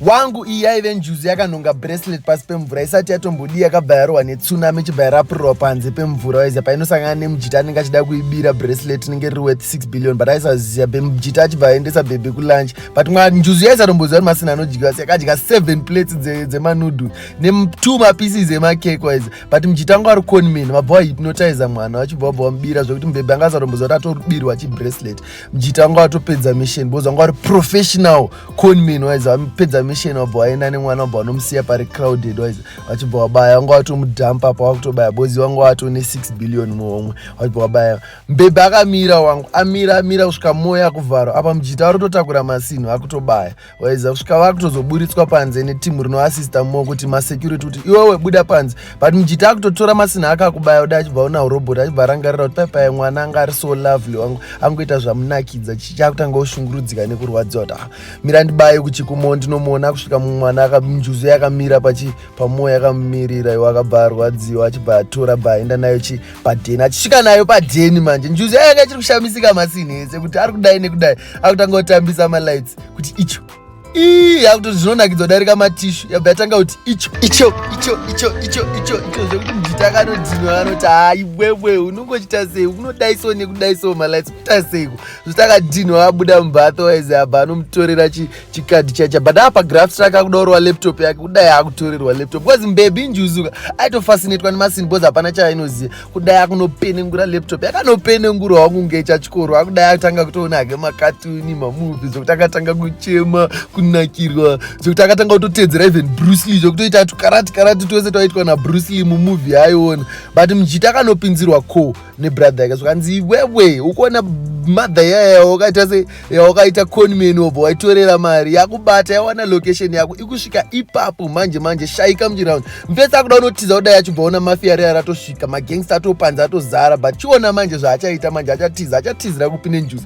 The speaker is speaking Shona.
wangu iyi yaive njuzu yakanhonga bracelet pasi pemvura isati yatombodii yakabva yarohwa netsunami ichibva yarapurirwa panze pemvura waiziva painosangana nemujita anenge achida kuibira bracelet inenge riri worth 6 billion but aisaziva bemujita achibva aendesa bhebhi kulunch but mwa njuzu yaisatomboziva kuti masina anodyiwa asi yakadya 7 plates dzemanoodle netwo mapieces emakeke waiziva but mujita anga ari conman vabva wahypnotiza mwana vachibva vabva vamubira zvekuti mubhebhi anga asatomboziva kuti atorubirwa chibracelet mjita anga atopedza mission because anga ari professional conman waiza vapedza mission wabva waenda nemwana wabva vanomusiya pari crowded waiza vachibva wabaya wanga watomudhampa apa wakutobaya bozi wanga watone 6 billion muhomwe wachibva wabaya mbebe akamira wangu amira amira kusvika moya kuvharo apa mjita ari kutotakura masinhu akutobaya waiza kusvika vakutozoburitswa panze netimu rinoasista mo kuti masecurity kuti iwewe buda panze but mujita akutotora masina ake akubaya uda achibva una urobot achibva arangarira kuti paipaye mwana anga ari so lovely wangu angoita zvamunakidza chichakutanga ushungurudzika nekurwadziwa kuti ah, mira ndibaye kuchikumo ndinomuona kusvika mumwana akanjuzu yakamira pachi pamoyo yakamumirira iwo akabva arwadziwa achibva atora bva aenda nayo chi padheni achisvika nayo padheni manje njuzu yayanga chiri kushamisika masini ese kuti ari kudai nekudai akutanga kutambisa malights kuti icho ii yakuti zvinonakidzwa darika matishu yabva yatanga kuti icho icho icho icho icho icho icho zvekuti mujita akanodhinwa vanoti hayi wewe unongochita sei unodai so nekudai so malights kuita seiko zvokuti akadhinwa abuda mumba otherwise abva anomutorera chikadhi chacha but apa graft rake akudaurwa laptop yake kudai akutorerwa laptop bcause mbebi injuzuka aitofasinetwa nemasin bcause hapana chaainoziva kudai akunopenengura laptop yakanopenengura wangu kunge chachikoro akudai atanga kutoona hake makatuni mamuvi zvekuti akatanga kuchema kunakirwa zvekuti akatanga kutoteedzera even brucely zvekutoita tukarati karati twese twaitwa nabrucely mumuvi yaaiona but mujiti akanopinzirwa co nebrother yake zvakanzi iwewe ukuona mother yaya wakaita se yawakaita conman wobva waitorera mari yakubata yawana location yako ikusvika ipapo manje manje shaika muchiround mfesi akuda unotiza kudai achibva ona mafia reya ratosvika magangsta atopanza atozara but chiona manje zvaachaita manje achatiza achatizira kupi nenjuzi